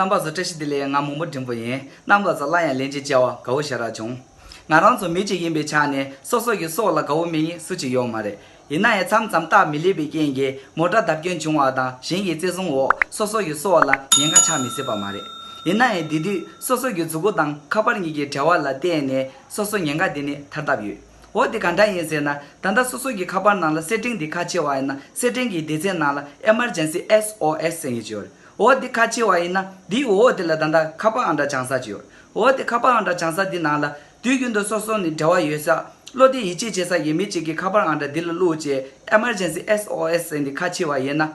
རྣམ་པ་བཟོ་བཀྲ་ཤིས་བདེ་ལེགས་ང་མོང་པོ་འབྲིང་པོ་ཡིན་རྣམ་ལ་ཟ་སླ་ཡང་ལན་ཅིག་བཅལ་བ་དགའ་བོ་ཞེ་དྲག་བྱུང་ང་རང་ཚོ་མི་གཅིག་ཡིན་པའི་ཆ་ནས་སོ་སོ་ཀྱི་སྲོག་ལ་དགའ་བོ་མེད་ཡིན་སུ་གཅིག་ཡོག་མ་རེད་ཡིན་ན་ཡང་མཚམས་མཚམས་རྟགས་མི་ལེགས་པའི་རྐྱེན་གྱིས་མོ་དགྲ་ཟླ་སྐྱོན་བྱུང་བ་དང་གཞན་གྱི་བརྩེ་བཟུང་འོག་སོ་སོ་ཡི་སྲོག་ལ་ཉེན་ཁ་ཆགས་མི་སྲིད་པ་མ་རེད། ཡིན་ན་ཡང་དེ་དུས་སོ་སོ་ཀྱི་གཟུགས་སྐུ་དང་ཁ་པར་གཉིས་ཀྱི་བྲལ་བ་ལ་བརྟེན་ནས་སོ་སོའི་ཉེན་ཁ་དེ་ནི་ཐར་ཐབས་ཡོད། འོ་དེ་ག་འདྲ་ཡིན་ཟེར་ན་ད་ལྟ་སོ་སོ་ཀྱི་ཁ་པར་ནང་ལ་སེར་ཕྲེང་དེ་ཁ་ཕྱེ་བ་ཡིན་ན་སེར་ཕྲེང་གི་སྡེ་ཚན་ནང་ལ Emergency SOS ཟེར་ངེས་ཀྱི་ཡོད་རེད། འོ་དེ་ཁ་ཕྱེ་བ་ཡིན་ན་དེའི་འོག་དེ་ལ་ད་ལྟ་ཁ་པར་ཨང་གྲངས་བྱང་ས་ཅིག་ཡོད་རེད། འོ་དེ་ཁ་པར་ཨང་གྲངས་བྱང་ས་དེ་ནང་ལ་དུས་རྒྱུན་དུ་སོ་སོ་ནི་འབྲེལ་བ་ཡོད་ས། བློ་བདེ་ཡིད་ཆེས་བྱེད་ས་ཡིན་མི་གཅིག་གིས་ཁ་པར་ཨང་གྲངས་འདི་ལ་བླུགས་ཅེས Emergency SOS ཟེར་ནས་ཁ་ཕྱེ་བ་ཡིན་ན།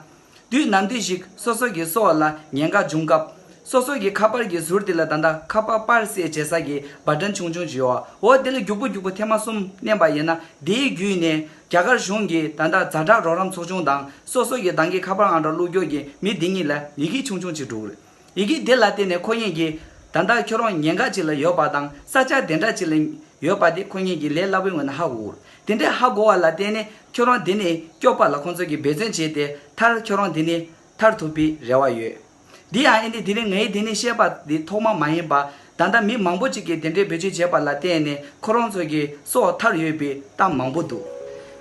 དུས་ནམ་དུས་ཤིག་སོ་སོ་གིས་སོ་བ་ལ་ཉེན་ཁ་འབྱུང་སྐབས། སོ་སོ་གིས་ཁ་པར་གྱི་ཟུར་དེ་ལ་ད་ལྟ་ཁ་པར་པར་བསྲེས་བྱེད་ས་ཀྱི་འབར་སྒྲ་ཆུང་ཆུང་བྱེད་འོ་དེ་ལ་རྒྱུག་པོ་རྒྱུག་པོ་ཐེངས་མ་གསུམ་བསྣན་པ་ཡིན་ན་དེའི་བརྒྱུད་ནས་རྒྱ་གར་གཞུང་གིས་ད་ལྟ་རྫ་དྲག་རོགས་རམ་ཚོགས་ཆུང་དང་སོ་སོ་གི་འདང་གི་ཁ་པར་ཨང་གྲངས་བླུགས་རྒྱུག་གི་མི་འདི་གཉིས་ལ་ཡི་གེ་ཆུང་ཆུང་ཅིག་འབྲུག་རེད། ཡི་གེ་འདི་ལ་བརྟེན་ནས་ཁོ་གཉིས་ཀྱིས། ད་ལྟ་ཁྱོད་རང་ཉེན་ཁ་ཅིག་ལ་ཡོད་པ་དང་ས་ཆ་དེ་འདྲ་ཅིག་ལ་ཡོད་པ་དེ་ཁོ་གཉིས་ཀྱི་ལས་སླ་བོའི་ངོས་ནས་ཧ་གོ། དེ་འདྲའི་ཧ་གོ་བ་ལ་བརྟེན་ནས་ཁྱོད་རང་དེ་ནས་སྐྱོབ་པ་ལ་ཁོང་ཚོ་གིས་འབད་བརྩོན་བྱས་ཏེ་མཐར་ཁྱོད་རང་དེ་ནས་ཐར་ཐུབ་པའི་རེ་བ་ཡོད། དེ་ཡང་ཨེ་འདི་དེ་རིང་ངས་དེ་ནས་བཤད་པ་འདི་ཐོག་མ་མ་ཡིན་པ། ད་ལྟ་མི་མང་པོ་ཅིག་གིས་དེ་འདྲའི་འབོད་ཚིག་བྱས་པ་ལ་བརྟེན་ནས་ཁོ་རང་ཚོ་གི་སྲོག་ཐར་ཡོད་པའི་གཏམ་མང་པོ་འདུག་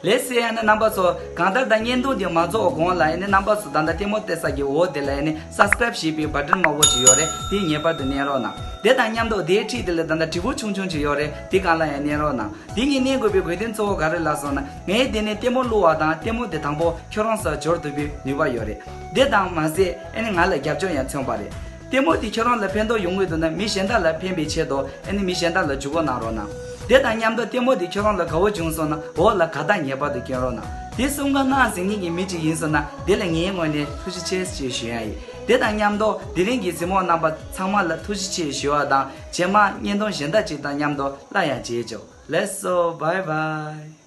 ལས་སྲིད་ཡ་ནི་རྣམ་པ་ཚོ་གང་ལྟར་ད་བརྙན་ཐུང་འདི་མ་རྫོགས་གོང་ལ་ཡ་ནི་རྣམ་པ་ཚོ་ད་ལྟ་ལྟད་མོ་བལྟས་ས་ཀྱི་འོག་དེ་ལ་ཡ་ནི Subscribe ཞེས་པའི Button དམར་བོ་ཅིག་ཡོད་རེད་དེ་ངེས་པར་དུ་བསྣན་རོགས་གནང་དེ་དང་མཉམ་དུ་དེའི་འཁྲིས་དེ་ལ་ད་ལྟ་དྲི་བོ་ཆུང་ཆུང་ཅིག་ཡོད་རེད་དེ་གང་ལ་ཡང་བསྣན་རོགས་གནང་དེ་གཉིས་བསྣན་དགོས་པའི་དགོས་དོན་གཙོ་བོ་ག་རེ་ལགས་སོང་ན་ངས་དེ་ནས་ལྟད་མོ་བསླུ་བ་དང་ལྟད་མོ་དེ་དང་པོ་ཁྱོད་རང་སོགས་འབྱོར་ཐུབ་པའི་ནུས་པ་ཡོད་རེད་དེ་དང་མ་ཟད་ཡ་ནི་ང་ལ་རྒྱབ་ལྗོངས་ཡང་མཚོན་པ་རེད། ལྟད་མོ་དེ་ཁྱོད་རང་ལ་ཕན་ཐོགས་ཡོང་གི་འདུག་ན་མི་གཞན་དག་ལ་ཕན་པའི་ཆེད་དུ་ཨ་ནི་མི་གཞན་དག་ལ་འཇུག་སྒོ་གནང་རོགས་གནང། དེ་དང་མཉམ་དུ་ལྟད་མོ་དེ་ཁྱོད་རང་ལ་དགའ་བོ་བྱུང་སོང་ན་འོག་ལ་ག་དག་ངེས་པར་དུ་སྐྱོན་རོགས་གནང། དེ་གསུམ་ག་སྔགས་ཟིན་ངེས་ཀྱི་མི་གཅིག་ཡིན་སོང་ན་དེ་ལ་ངའི་ངོས་ནས་ཐུགས་རྗེ་ཆེ་ཞེས་ཞུ་ཡ་ཡིན། དེ་དང་མཉམ་དུ་དེ་རིང་གི་གཟིགས་མོ་གནང་པ་ཚང་མ་ལ་ཐུགས་རྗེ་ཆེ་ཞུ་བ་དང་བྱེ་མ་སྙན་ཐུང་གཞན་དག་ཅིག་དང་མཉམ་དུ་སླར་ཡང་མཇལ་བྱོ་ལེས་སོ་བའི་བའི།